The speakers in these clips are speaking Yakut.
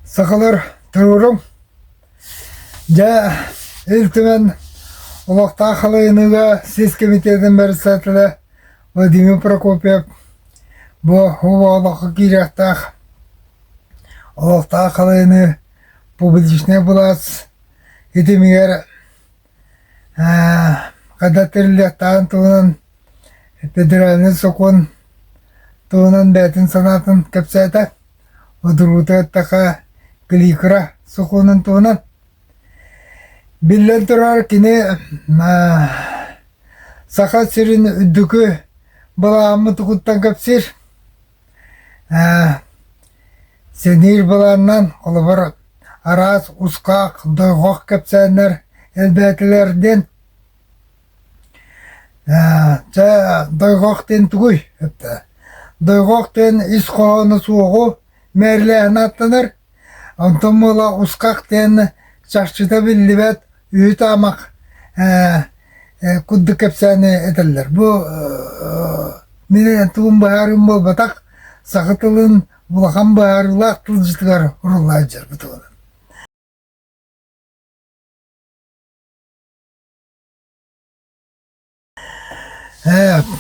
Сахалар туруорум. Дьэ, Ил Түмэн олохтоох халайыныыга сис комитетин председателэ Владимир Прокопьев бу олоххо киириэхтээх олохтоох халайыныы публичнай былаас итимигэр Хата тэриллиэхтээҕин туһунан федеральнай сокуон туһунан бэйэтин санаатын кэпсээтэ. Удуруту эттэхэ кликра сокуонун туһунан. Биллэн турар, кини Саха сирин үрдүкү былааммыт угуттан кэпсиир. Ээ, сэниир былаанынан, холобур, араас ускаах дойҕох кэпсээннэр элбээтилэр диэн чэ дойҕох диэн тугуй? Дойҕох диэн ис хоһооно суоҕу мээрилээһин ааттанар Онтон буола Усках диэн чахчыта биллибэт үүт-аамах ээ ээ курдук кэпсээни этэллэр. Бу мин тылым быһаарыым буолбатах, саха тылын улахан быһаарыылаах тылдьытыгар уруллаан дьэр бу тылынан. Дьэ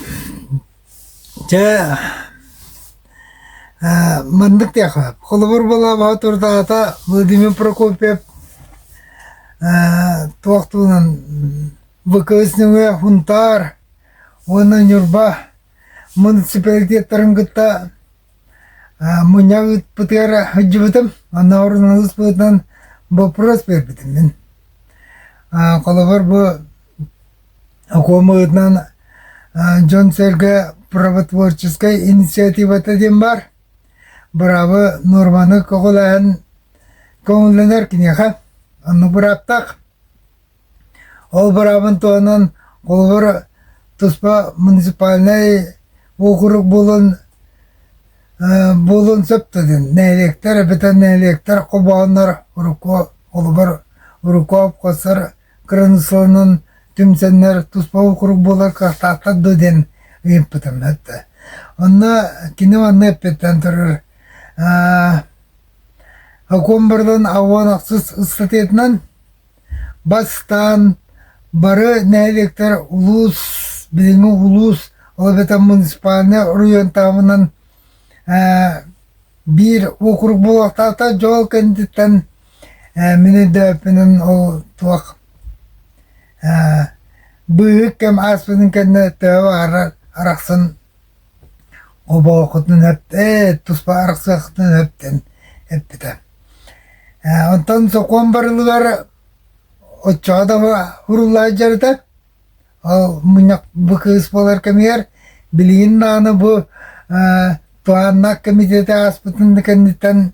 маннык диэххэ холобур буолаабаҕа турдаҕата Владимир Прокопьев туох туһунан ВКС нөҥүө Хунтаар уонна Ньурба муниципалитеттарын кытта мунньах ыыппытыгар сылдьыбытым оннооҕор боппуруос биэрбитим мин холобур бу Окуомаһытынан дьон-сэргэ правотворческай инициативата диэн баар. Быраабы нуорманы көҕүлэһэн көҥүллэнэр киниэхэ оннук бырааптаах. Ол быраабын туһунан холобур туспа муниципальнай уокурук буолан буолуон сөп да диэн нэһилиэктэр эбэтэр нэһилиэктэр холбоһоннор урукку холобур урукку холкуостар Кыраныыссаларынан түмсэннэр туспа уокурук буолар кварталдар дуо диэн ыйыппытым эттэ. Онно кини манна эппиттэн турар Акомбардан аваан ахсыс ыстатыйатынан бастаан бары нэһилиэктэр улуус, билиҥҥи улуус, ол эбэтэр муниципальнай оройуон таабынан биир уокурук буолуохтаахтар дьол кэнниттэн Мин өйдөөппүнүн ол туох быыһык кэм ааспытын кэннэ төбө баҕарар арахсан обоохутун эптэн туспа арахсыахтан эптэн эппитэ. Онтон сокуон барылыгар оччоҕо да уруллаат дьарыта. Ол мунньах бу кыыс буолар кэмигэр билигин даҕаны бу туһааннаах кэмитиэти ааспытын да кэнниттэн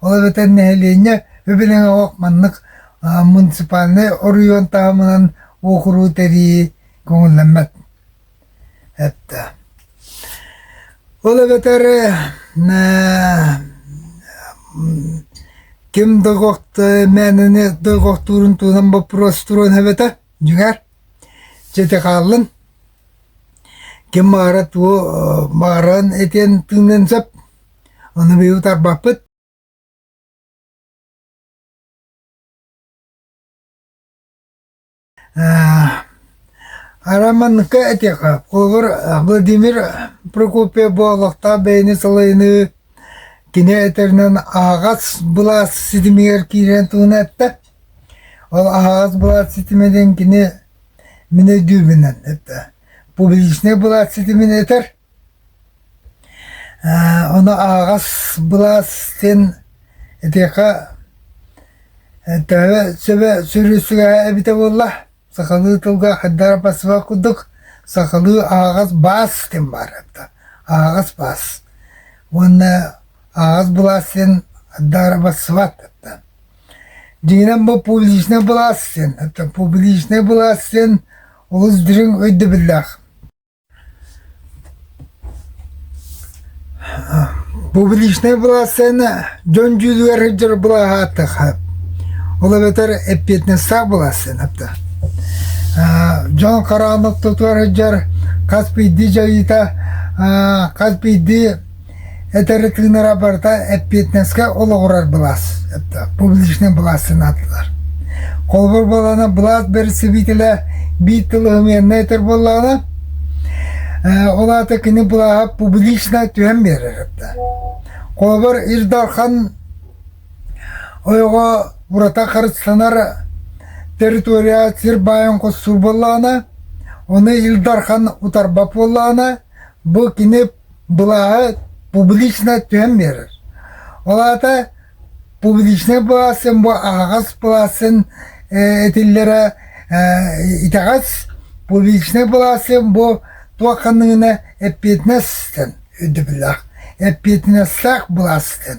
Ол эбэтэр нэһилиэнньэ үбүлэҥэ олох маннык муниципальнай оройуон таһымынан уокуруу тэрийии көҥүллэммэт эттэ. Ол эбэтэр ким долгохто мээнэни долгохтуурун туһунан боппуруос туруон эбэтэ дьиҥэр чэти хааллын ким баара туо бааран этиэн тыыныан сөп Аны быйыл тарбаппыт Арам манныкка этиэхэ, холобур, Владимир Прокопьев бу олохтоох бэйэни салайыныы кини этэринэн аһаҕас былаас ситимигэр киирэн туһуна этэ. Ол аһаҕас былаас ситиминэн кини мин өйдүүбүнэн этэ. Публичнай былаас ситимин этэр, Ону аҕас былаас диэн итиэхэ төһө сөбө сүрү-сүрэҕэ эбитэ буолла, сахалыы тылга хайдах барсыбат курдук, сахалыы аҕас баас диэн баар эбитэ, аҕас баас уонна аҕас былаас диэн хайдах барсыбат эбитэ. Дьиҥинэн бу публичнай былаас диэн, публичнай былаас диэн олус дириҥ өйдөбүллээх. Публичнай былассыана дьон дьүүлүгэр сылдьар былааһааттаха. Ол эбэтэр эппиэтинэстээх былассыанаптан. дьон хараҕын ортотугар сылдьар хас биирдии дьайыыта хас биирдии Этэри тыынара барыта эппиэтинэскэ олоҕурар былаас, публичнай былаас санаатылар. Холобур буолана, былаас бэрэсэбиитэлэ биир тыл ымыаннай этэр буоллаҕына, ол аата кини былааһа публично түһэн биэрэр этэ. Холобур, Ил Дархан ойоҕо урата харыстанар территория сир баайын хостуур буоллаҕына, ону Ил Дархан утарбат буоллаҕына, бу кини былааҕы публично түһэн биэрэр. Ол аата публичнай быласын бу аһаҕас быласын этиллэрэ итэҕэс публичнай быласын бу туох ханныгына эппиэтинэс ыстан өйдөбүллээх эппиэтинэстээх былаас ыстан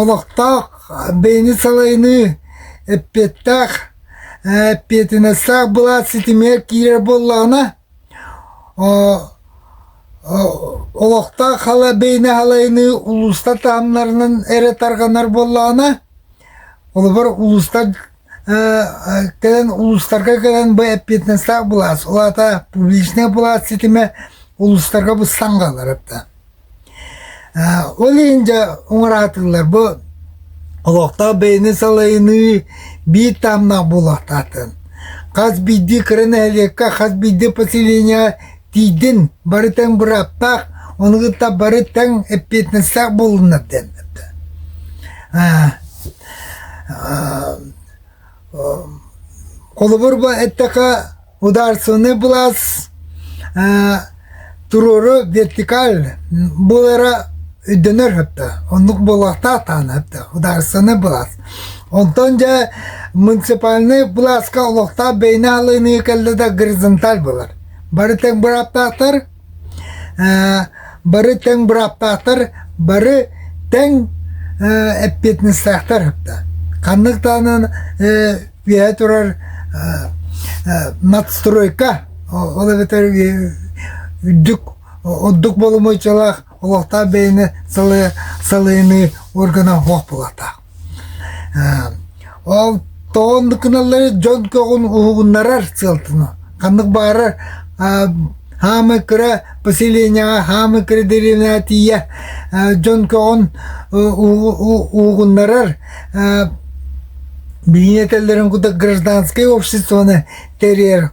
Олохтоох бэйэни салайыныы эппиэттээх, эппиэтинэстээх былаас ситимигэр киирэр буоллаҕына, олохтоох хала бэйэни салайыныы улуустар таһымнарынан эрэ тарҕанар буоллаҕына, холобур, улуустар кэлэн улуустарга кэлэн бу эппиэтинэстээх былаас, ол аата публичнай былаас ситимэ улуустарга бу саҥаланар Ол иһин дьэ уҥараатыллар бу олохтоох бэйэни салайыныы биир таһымнаах буолуохтаахтарын. Хас биирдии кыра нэһилиэккэ, хас биирдии поселение тиийдин бары тэҥ бырааптаах, ону кытта бары тэҥ эппиэтинэстээх буоллуннар диэн Холобур ба эттэхэ ударственный былаас туруору вертикаль буолара өйдөнөр хатта оннук буолуохтаахтаана хатта ударственный былаас онтон дьэ муниципальный былааска олохтоох бэйэни алыныы кэллэ да горизонталь болар бары тең бырааптаахтар Ээ, бары тэҥ бырааппааттар, бары тэҥ ээ эппиэтинэстээхтэр да. Ханнык даҕанан ээ үөһэ турар аа аа надстройка ол эбэтэр үрдүк ордук боломуочалаах олохтоох бэйэни салайыныы органа суох буолуохтаах. Ол тоҕон да гыналлары дьон көҕүн уһугуннарар сыалтына ханнык баарар хаамыы кыра поселениеҕа хаамыы кыра дэриэбинэҕэ тиийэ дьон көҕүн уһугуннарар билиини этэллэрин курдук гражданскай обществоны тэрийэр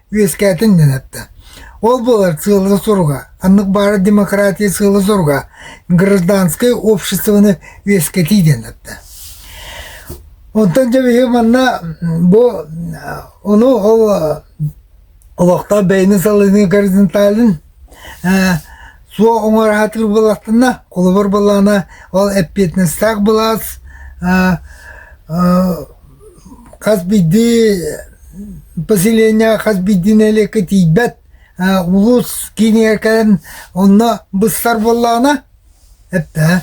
үөскээтин диэн эттэ. Ол булар сыала-соруга, аннык баара демократия сыала-соруга, гражданское обществоны үөскэтии диэн эттэ. Онтон дьэбиһи манна бу ону ол олохтоох бэйэни салыны горизонталын ээ суох уҥараатык быллаттына холобур былаана ол эппиэтинэстээх былаас аа хас биирдии поселение хас биирдии нэһилиэккэ тиийбэт улуус киинигэр кэлэн онно быстар буоллаҕына эптээ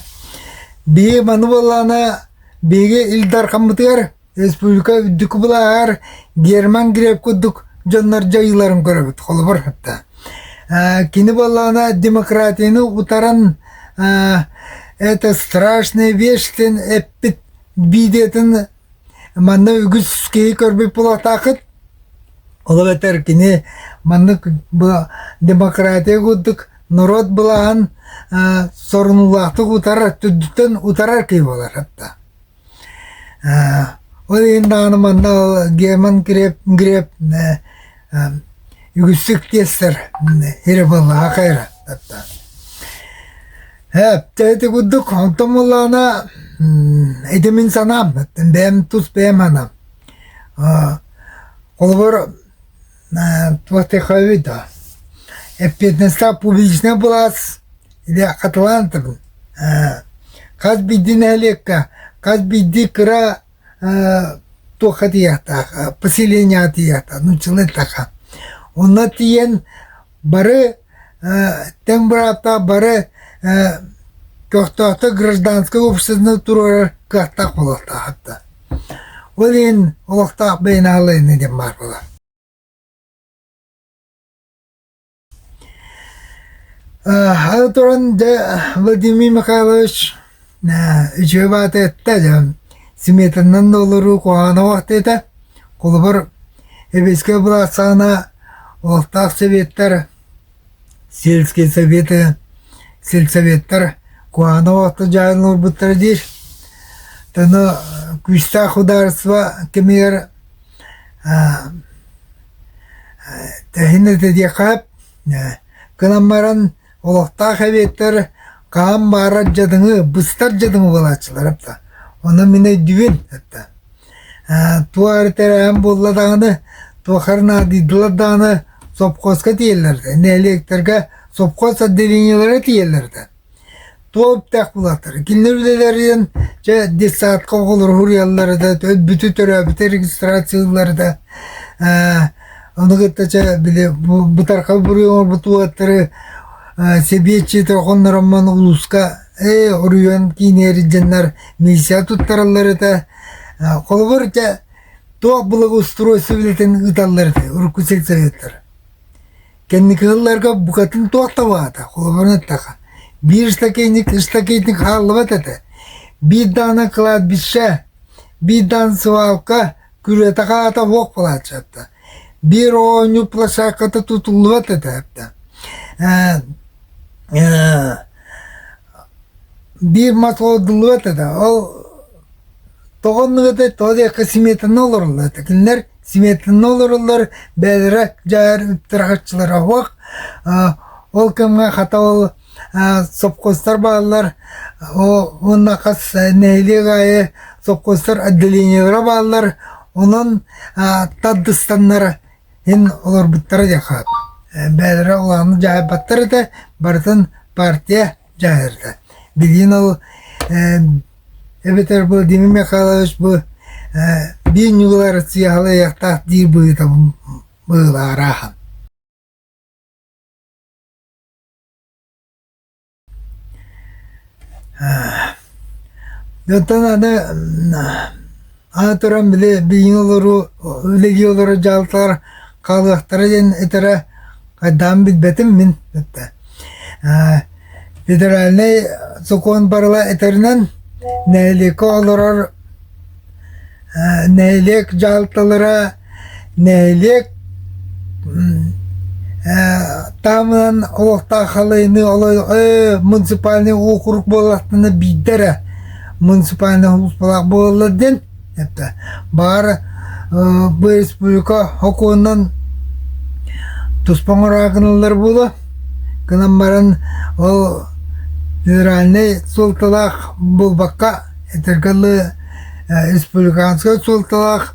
биһиги маны буоллаҕына биһиги ил дархаммытыгар Республика үрдүкү былааһар Герман Грек курдук дьоннор дьайыыларын көрөбүт, холобур атта. Кини буоллаҕына демократияны утаран это страшная вещь дэн эппит биидиэтин манна үгүс киһи көрбүт булатаахыт. Ол эбэтэр кини маннык демократия курдук норуот былааһын сорунуулаахтык утарар, түрдүттэн утарар киһи буолар атта. Ол иһин даҕаны манна Герман Греф Греф үгүстүк тиэстэр Ереваннаҕа хайыһартаттар. Ити курдук онтон муллаана ити мин санаам бэйэм тус бэйэм санаам холобур Птаховида. Эппиэтинэстээх публичнай былаас или Атланта был. Хас биирдии нэһилиэккэ, хас биирдии кыра туохха тиийэхтээх, поселениеҕа тиийэхтээх, нууччалар таха. Онно тиийэн Бары тэҥ бырааптаах бары көхтөөхтүк гражданскай уопсастыба туруорар кыахтаах буолуохтаах да ол иһин олохтоох бэйэни аһылайыныы диэн баар буолар аны туран дьэ Владимир Михайлович үчүгэй баата этэ дьэ сметаннан да олоруу куһаҕанах уота этэ холобур эбэскэ былаансаҕына олохтоох советтар сельские советы сельсоветтар куһаҕанах уота дьаайан олорбуттара диир аны күүстээх судаарыстыба кэмигэр тэһин этэ диэххэ кынан баран олохтоох эбиэттэр хаһан баарар дьадыҥы быстар дьадыҥы буолааччылар эбитэ ону мин өйдүүбүн эттэ туох эрэ тэрээһин буолла даҕаны туохар наадыйдылар даҕаны сопхуоска тиийэллэр нэһилиэктэргэ сопхуос отделениелара тиийэллэр этэ туоптах булатар. Кинилэр үлэлэрин, чэ, детсадка оҕолору хуруйаллары да, бүтү төрөөбүтэ регистрациялары да, ону кытта чэ, били бытарха буруй оҥорбут уоттары сэбиэтчиитэ хоннороммон улууска э орүйон киинээридденнер миссия туттараллар это холобур те туох благоустройство билетин ыталлар урукку сельсоветтар Кэнники сылларга букатын туох табаата, холобурун эттэхэ, биир стаканник, стаканник хааллыбат этэ. Биир даана кладбище, биир даана свалка, күрүөтэ хаата уох плаччатта. Биир оонньуу площадката тутуллубат этэ эптэ. Биир мат олдуллубат этэ. Ол тоҕонныгыта тоҕо диэккэ сметаны олорулла этэ. Кинилэр сметанна олороллор бэйэлэрэ дьайар ыттырахаччылара уһуох ол кэмҥэ хата ол сопхуостар бааллар уонна хас нэһилиэк аайы сопхуостар отделениелара бааллар онон тардыстаннара иһин олорбуттара диэхха бэйэлэрэ улааны дьаһайбаттар этэ барытын партия дьаһайарда билигин ол эбэтэр Владимир Михайлович бу биир ньылыгар сыыһалайыахтаах диир быһыыта быһыылаара ахан оттон аны Аатыран били билиҥҥи олоруу легиялара дьаалталар хаалыахтара диэн этэрэ хайдаан билбэтим мин этэ. Э, федеральнай сокуон барыла этэринэн нэһилиэккэ олорор э, нэһилиэк дьаалталара Нэһилиэк таһымынан олохтоох халайыныы оло муниципальнай уокурук буоллахтына биирдэ эрэ муниципальнай хулуспалаах буолаллар диэн баара бу республика сокуонунан туспа оҥороо гыналлар буолуо гынан баран ол федеральнай суолталаах буолбакка этэргэ дылы республиканскай суолталаах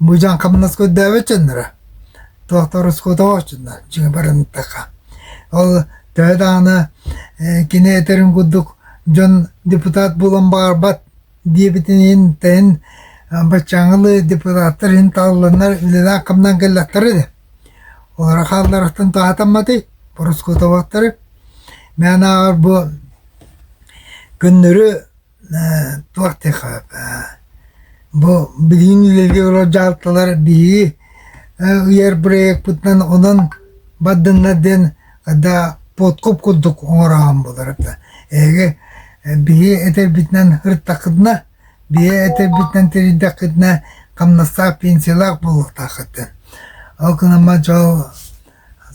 Быдьаан хамнаска үрдээбэт дьонноро, доктор оскуотабааччынна дьиҥэ баран ытта Ол төһө даҕаны кини этэрин курдук дьон депутат буолан баарбат диэбитин иһин тэйин баччааҥҥылы депутаттар иһин талыланнар үлэлээн-хамнан кэллэхтэрэ ини. Олоро хаалларахтан туһатамматый ороскуотабаттары? Мээн ааҕар бу көннөрү Туох тыаха бу билигин үлэлиир олор дьаһалталар биһиги ыйар бырайыакпытынан онон бардыннар диэн да подкуп курдук оҥороон буолара да эһиги биһиги этэрбитинэн ырыттаххытына биһиги этэрбитинэн тэрийдэххитинэ хамнастаах пенсиялаах буолуохтааххыт диэн ол гынан баран дьол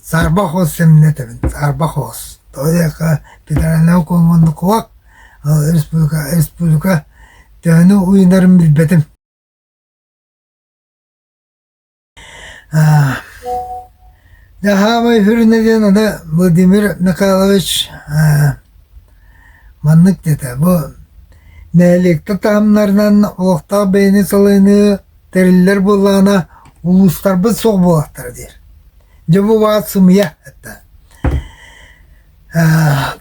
Саарбах уос сэминэ этэбин. Саарбах уос. Тоҕо диэххэ федеральнай окуон муннукугар республика республика төһөнү уйунарын билбэтим. Дьэ хаамай үрүнэ диэн аны Владимир Михайлович маннык диэтэ, бу нэһилиэктэр таһымнарынан олохтоох бэйэни салыныы Тэриллэр буоллаҕына, улуустарбыт суох буолуохтара диир. Дьэ бу баҕат сымыйа это.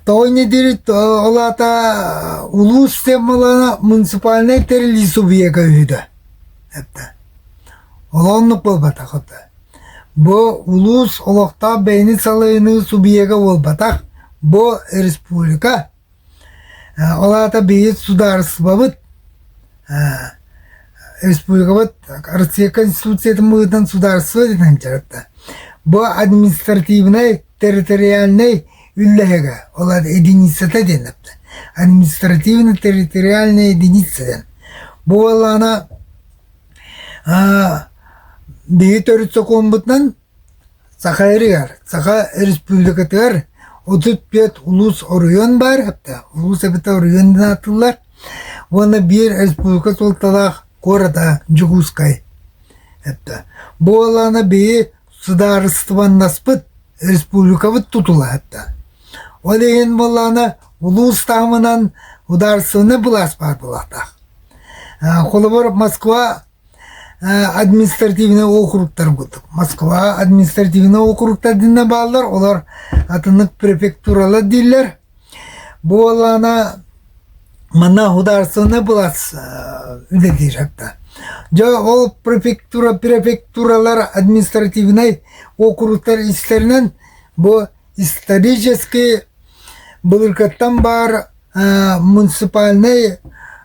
Тоҕо ини диир ол аата улуус темалана муниципальнай тэриллии субъека үһүдэ. Это. Ол оннук буолбатах это. Бу улуус олохтоох бэйэни салайыныы субъека буолбатах. Бу республика Ол аата бэйэбит судаарыстыбабыт, республикабыт Россия Конституциятын быһыытынан судаарыстыба дэнэн дьарыкта. Бу административнай, территориальнай үллэһигэ, ол аата единицата диэн эптэр. Административно-территориальная единица диэн. Бу буоллаана биһи төрүт сокуомбутунан Саха Ырыгар Саха Өрөспүүбүлүкэтигэр отут түөрт улуус оройуон баар, улуус эбэтэ оройуон диэн аатырыллар уонна биир өрөспүүбүлүкэ суолталаах куората Дьокуускай. Бу буолаана биһи судаарыстыбаннаспыт өрөспүүбүлүкэбит тутула. Ол иһин буолаана улуус таһымынан удаарыстыбаннай былаас баар буолаахтаах. Холобур, Москва Административнай округтарбыт Москва административнай округтардыына бааллар, олор атыннык префектуралар дииллэр. Буолаана манна государственнай былаас үлэлиир атта. Дьэ ол префектура префектуралар административнай округтар истэринэн бу исторический былыргыттан баар муниципальнай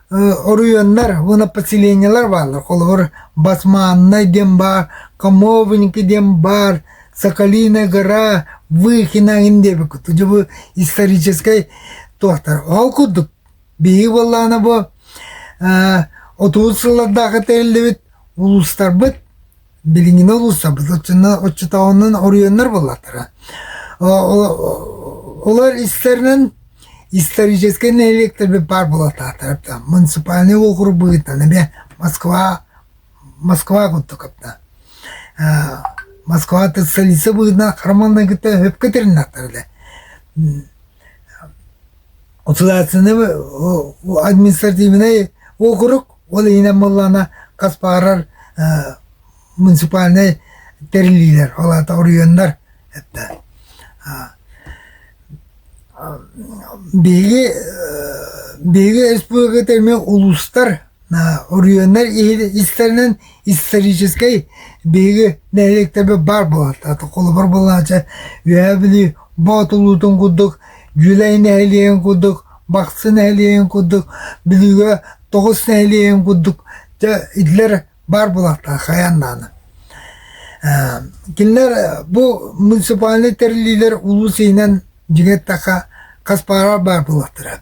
оройуоннар уонна поселениелар бааллар. Холобур, Басманнай диэн баар, Камовники диэн баар, Соколиная гора, Выхинаин диэбит куту дьубу историческай туохтар. Ол курдук биһиги буоллаана бу отуус сыллардаахы тэриллибит улуустарбыт Билиҥҥи уулусса оччотооҕунан оройуоннар буоллахтара. Олор истэринэн историческай нэһилиэктэрбит баар буолатаатар. Муниципальнай уокурук быһыытынан эмиэ Москва Москва курдук кытта. Москва столица быһыытынан хараманнай кытта өп кэтириннэхтэр эле. Следственнай административнай округ, ол иһинэн буоллаҕына хас баҕарар муниципальнай тэриллиилэр, ол аата оройуоннар биһиги биһиги республиката эмиэ улуустар Орүөннэр истэринэн историческай биһиги нэһилиэктэбит баар буолуохтаах. Холобур буолааччы Үөһээ Бүлүү Боотулуутун курдук, Дьүлэй нэһилиэгин курдук, Бахсы нэһилиэгин курдук, Бүлүүгэ тоҕус нэһилиэгин курдук итилэр баар буолуохтаах хайаан даҕаны. Кинилэр бу муниципальнай тэриллиилэр улуус иһинэн дьиҥи эттэххэ хас баар баар буолуохтара.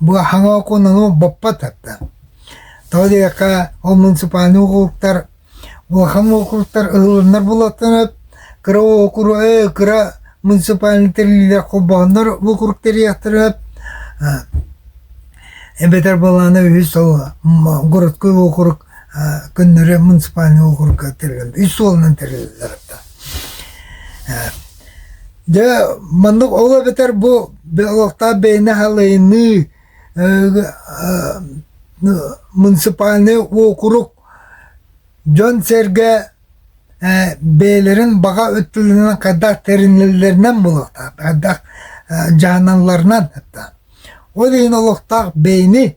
Бу аһаҥа окуонаны боппот тарта. Тоҕо диэтэххэ, ол муниципальнай округтар улахан округтар ыһылланнар буоллахтарына, кыра округы кыра муниципальнай тэриллиилэр холбооннор бу округ тэрийиэхтэрэ эбэтэр буоллаҕына үһүс ол городской округ көннөрү муниципальнай округка тэрилэллэр, үс суолунан тэрилэллэр. Дьэ, маннык ол эбэтэр бу олохтоох бэйэни халайыныы муниципальнай уокурук дьон-сэргэ бэйэлэрин баҕа өттүлэринэн хайдах тэринэллэринэн буолуохтаах, хайдах дьаһаналларынан. Ол иһин олохтоох бэйэни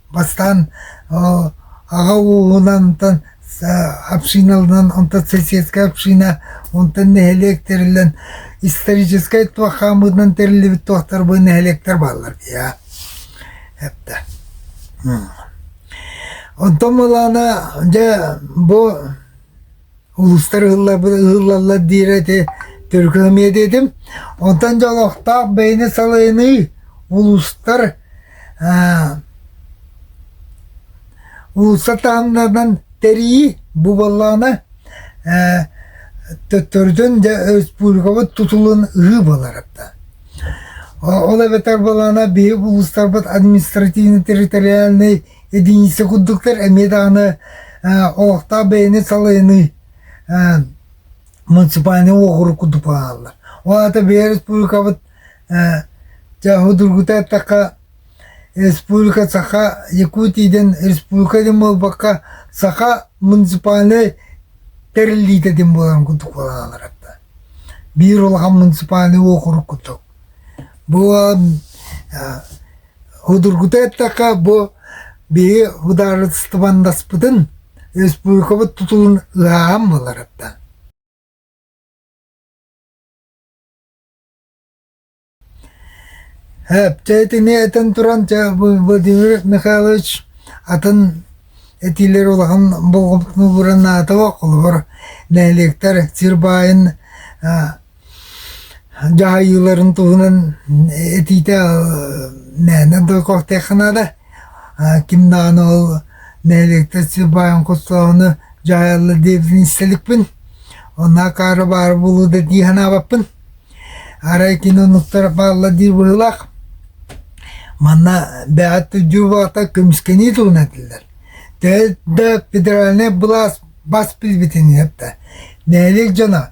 Бастаан аҕа ууһунан, онтон общиналарынан, онтон соседскай община, онтон нэһилиэк тэриллэн историческай туох хаамыытынан тэриллибит туохтарбы нэһилиэктэр бааллар дии эптэ. Онтон балаана дьэ бу Уустар ыһыллаллар диир ити түркөмүөдэ этим. Онтон дьолохтоох бэйэни салайыныы улуустар уулусса таһымнарынан тэрийии бу буоллаҕына төттөрүтүн дьэ республикабыт тутулун ыһыы буоларда. Ол эбэтэр буоллаҕына биһи улуустарбыт административно-территориальнай Итиниssä курдуктар эмиэ даҕаны олохтоох бэйэни салайыныы муниципальнай уокурук курдук буолаллар. Ол аата бэйэ республикабыт дьэ судургута эттэххэ республика саха Якутиядын республика дин буолбакка саха муниципальнай тэриллиитэ дин буоларын курдук буолаллар биир улахан муниципальнай уокурук курдук. Бу Судургута эттэххэ, бу биһиги судаарыстыбаннаспытын республикабыт тутулун ыһааһын буоларыттан Чэ итини этэн туран чэ Владимир Михайлович атын этиилэр улахан болҕомтону ууран наадалаах холобур нэһилиэктэр сир баайын Дьаһайыыларын туһунан этиитэ мээнэ да көхтөөххө наада. ким даҕаны ол нэһилиэктэр сыырбаайын хостоһуну дьаһайаллар диэбитин истэликпин. Онно акаары баар буолуо да дии санаабаппын. Арай кини оннуктара бааллар дии быһыылаах. Манна бэҕэт да дьыл баҕата көмүскэнии туһунан этиллэр. Төрүт да федеральнай былаас бас билбитин эттэ. Нэһилиэк дьоно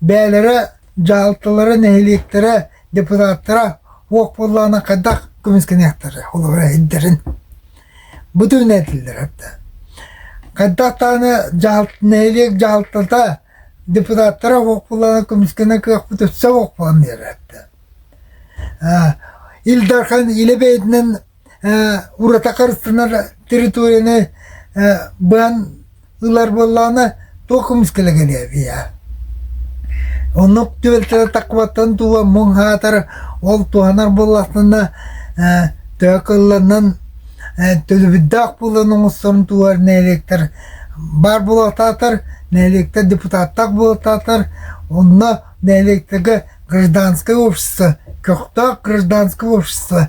Бэйэлэрэ, дьаһалталара, нэһилиэктэрэ, депутаттара уох буоллаҕына хайдах көмүскэниэхтэрэ холобура иһирдэрин бу түмүнэ этиллэр эрдэ. Хайдах даҕаны дьаһалт нэһилиэк дьаһалтата депутаттара уох буоллаҕына көмүскэнэ кыахпыт өссө уох буолан иһэр эрдэ. Ил Дархан илэ бэйэтинэн урата харыстанар территорияны быан ылар буоллаҕына туох кымыс кэлэ кэлиэбиэ оннук түбэлтэлэр таххыбаттан тула муҥ хаатар ол туһанар буоллахтына төһө кылланан төлөбүрдээх буолан оҥосторун туһар нэһилиэктэр баар буолаатаатар нэһилиэктэр депутаттар буолаатаатар онно нэһилиэктэргэ гражданское общество көхтөөх гражданское общество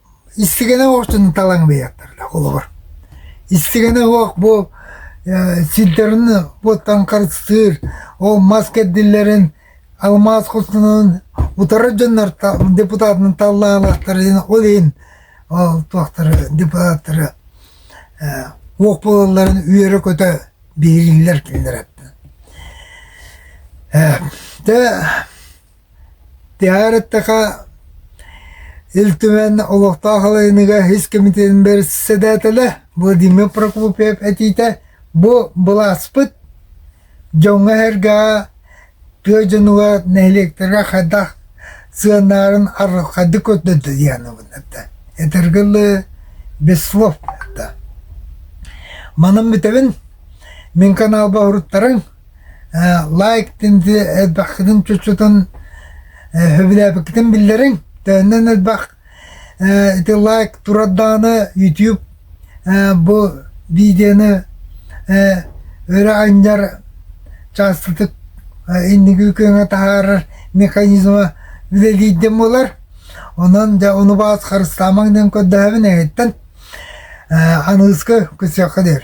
Истигэнэ оҕотун талаҥ быйааттарла холобур. Истигэнэ оһох бу сирдэрин бу таҥхарыстыыр, ол мас кэрдиллэрин, алмаас хостонорун утары дьоннор депутатынан таллаалаахтарын, ол иһин туохтары депутаттары оһох буолалларын үөрэ-көтө биэриилэр кинилэр эттэ. Тиһэҕэр эттэхэ, Ил Түмэн олохтоох халайыныыга ис кэмитиэтин бэрэссэдээтэлэ Владимир Прокопьев этиитэ бу былааспыт дьоҥҥо-сэргэҕэ, тыа дьонугар, нэһилиэктэргэ хайдах сыаналарын арылхайдык көрдөрдө диэн ылынна. Этэргэ дылы, без слов да. Манан бүтэбин. Мин каналга уһуруттарыҥ. лайк тинди элбэхтигин чучутун сөбүлээбиккитин биллэриҥ төннөн элбэх ити лайк турардааны ютуб бу видеоны өрө анньар чаастытык инники күөҥҥэ таһаарар механизма үлэлиирдин буолар онон дьэ ону баҕас харыстаамаҥ диэн көрдөһөбүн эһиттэн аныыска көрсүөххэ диир